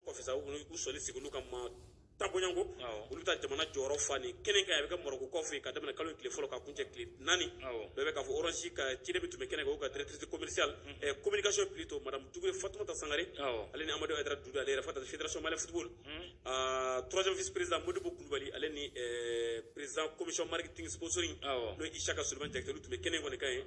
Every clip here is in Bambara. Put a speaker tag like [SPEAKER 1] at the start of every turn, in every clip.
[SPEAKER 1] kɔfɛ sa u sɔli sigi olu ka ma taabonyanko olu bɛ taa jamana jɔyɔrɔ fa nin kɛnɛ kan a bɛ kɛ marɔku kɔfɛ ka daminɛ kalo tile fɔlɔ ka kuncɛ tile naani bɛɛ bɛ k'a fɔ orange ka ciden min tun bɛ kɛnɛ kan o ka directrice commerciale communication plutôt madame Dugure Fatumata Sangare ale ni Amadou Aidara Doudou ale yɛrɛ fata fédération malienne football troisième vice président Modibo Kulubali ale ni président commission marketing sponsoring n'o ye Isaka Solomani Jakite olu tun bɛ kɛnɛ in kɔni kan yen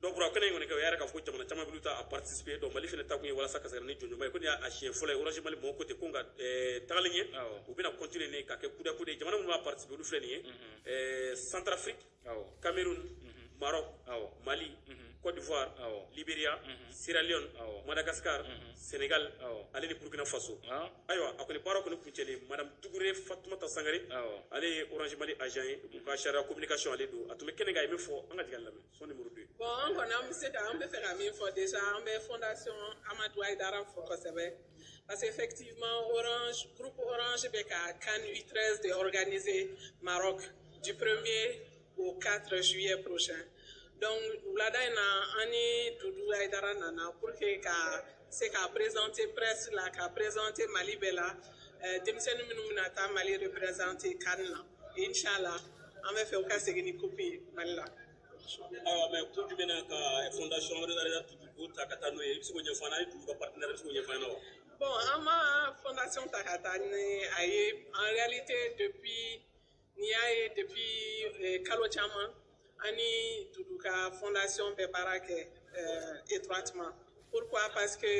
[SPEAKER 1] donc baro kɛnɛ in kɔni kan u y'a yira k'a fɔ ko jamana caman bɛ taa a participer donc mali fana taakun ye walasa ka se ka na ni jɔnjɔnba ye ko nin y'a siɲɛ fɔlɔ ye orange mali mɔgɔw ko ten ko nka tagali ɲɛ u bɛna continuer nin ka kɛ kuda kudayi jamana minnu b'a participer olu filɛ nin ye centrafrique cameroun maroc mali Côte d'Ivoire, Liberia, Sierra Leone, Madagascar, Sénégal, ale ni Burkina Faso. Ayiwa a kɔni baro kɔni kuncɛlen Madame Dugure Fatumata Sangare ale ye Orange Mali agent ye u ka chargée communication ale don a tun bɛ kɛnɛ kan a ye min fɔ an ka jigin a lamɛn. son numéro deux bon an kɔni an bɛ se
[SPEAKER 2] ka an bɛ fɛ ka min fɔ déjà an bɛ fondation amadu ayidara fo kosɛbɛ parce que effectivement orange groupe orange bɛ ka can u 13 de organiser maroc du 1er au 4 juillet prochain donc wulada in na an ni dudu ayidara nana pour que ka se ka présenter presse la ka présenter mali bɛɛ la denmisɛnnin minnu bɛna taa mali représenter can na inshallah an b'a fɛ u ka segin ni coupe ye mali la ayiwa
[SPEAKER 1] mais kun jumɛn na ka fondation wɛrɛ yɛrɛ dudu ta ka taa n'o ye i bɛ se k'o ɲɛfɔ an ye dudu ka partenaire bɛ se k'o ɲɛfɔ an ye wa bon an ma
[SPEAKER 2] fondation ta ka taa ni a ye en réalité depuis n'i y'a ye depuis eh, kalo caman an ni dudu ka fondation bɛ baara kɛ eh, étroitement pourquoi parce que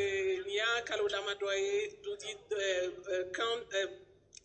[SPEAKER 2] n'i y'a kalo damadɔ ye dutigi eh, eh, kan eh,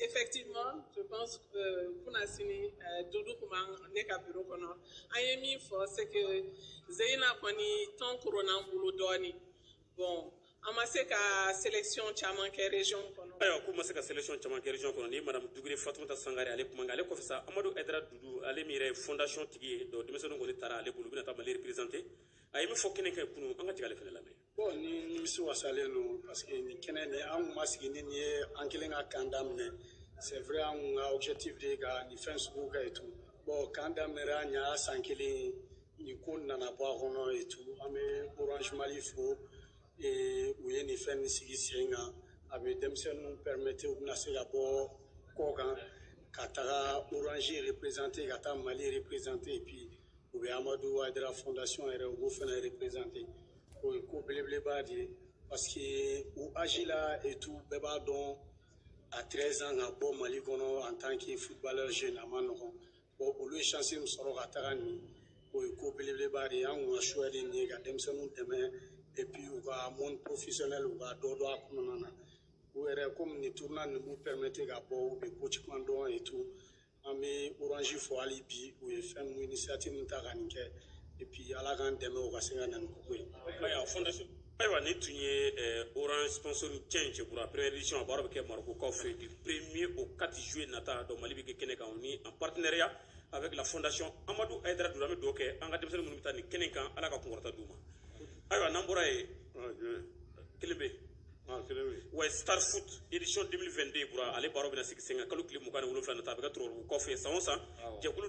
[SPEAKER 2] Effectivement, je pense que euh, kunasinin euh, Doudou kumana ne ka bureau kɔnɔ. A ye min fɔ, c'est que ɲinan kɔni, temps kɔrɔnna an bolo dɔɔnin. Bon, an ma se ka selection caman kɛ region kɔnɔ ayiwa k'u ma se ka
[SPEAKER 1] selection caman kɛ region kɔnɔ ni madame dugure fatumata sangare ale kumakan ale kɔfɛ sa amadu ayidara dudu ale min yɛrɛ ye fondation tigi ye donc denmisɛnninw kɔni taara ale bolo u bɛna taa mali représenter a ye min fɔ kɛnɛ kan kunun an ka jigin ale fana lamɛn Bon ne
[SPEAKER 3] nimisiwasalen don parce que nin kɛnɛ nin an kun ma sigi ni nin ye an kɛlen ka camp daminɛ c'est vrai an kun ka objectif de ye ka nin fɛn sugu kɛ et tout bon camp daminɛra an y'a san kelen nin ko nana bɔ a kɔnɔ et tout an bɛ orange mali fo u ye nin fɛn nin sigi sen kan a bɛ denmisɛnninw permettre u bɛna se ka bɔ kɔkan ka taga orange représenter ka taa mali représenter et puis u bɛ amadu ayidara fondation yɛrɛ u b'o fana représenter O ye ko belebeleba de ye parce que u âge la et tout bɛɛ b'a dɔn à 13 ans ka bɔ Mali kɔnɔ en tant que footballeur jeune a man nɔgɔn bon olu ye chance min sɔrɔ ka taga nin o ye ko belebeleba de ye anw ka choix de nin ye ka denmisɛnninw dɛmɛ et puis u ka monde professionnel u ka dɔ dɔn a kɔnɔna na u yɛrɛ komi nin tournoi nin b'u permettre ka bɔ u bɛ ko caman dɔn et tout an bɛ orange fɔ hali bi u ye fɛn min initiative min ta ka nin kɛ et puis ala k'an dɛmɛ u ka se ka na ni koko ye. ayiwa fondation
[SPEAKER 1] ayiwa nin tun ye eh, orange sponsor change pour la première édition a baaraw bɛ kɛ marokokaw fɛ du premier au 4 juillet nata donc mali bɛ kɛ kɛnɛ kan o ni en partenariat avec la fondation amadou haïdara doudou an bɛ dugawu kɛ an ka denmisɛnnin minnu bɛ taa nin kɛnɛ kan ala ka kunkɔrɔta d'u ma ayiwa n'an bɔra yen kelen bɛ yen Ah, wa star foot édition 2022 bɔra ale baaraw bɛna sigi sen kan kalo tile mugan ni wolonwula nata a bɛ kɛ tɔrɔkɔrɔbugukaw fɛ san o san jɛkulu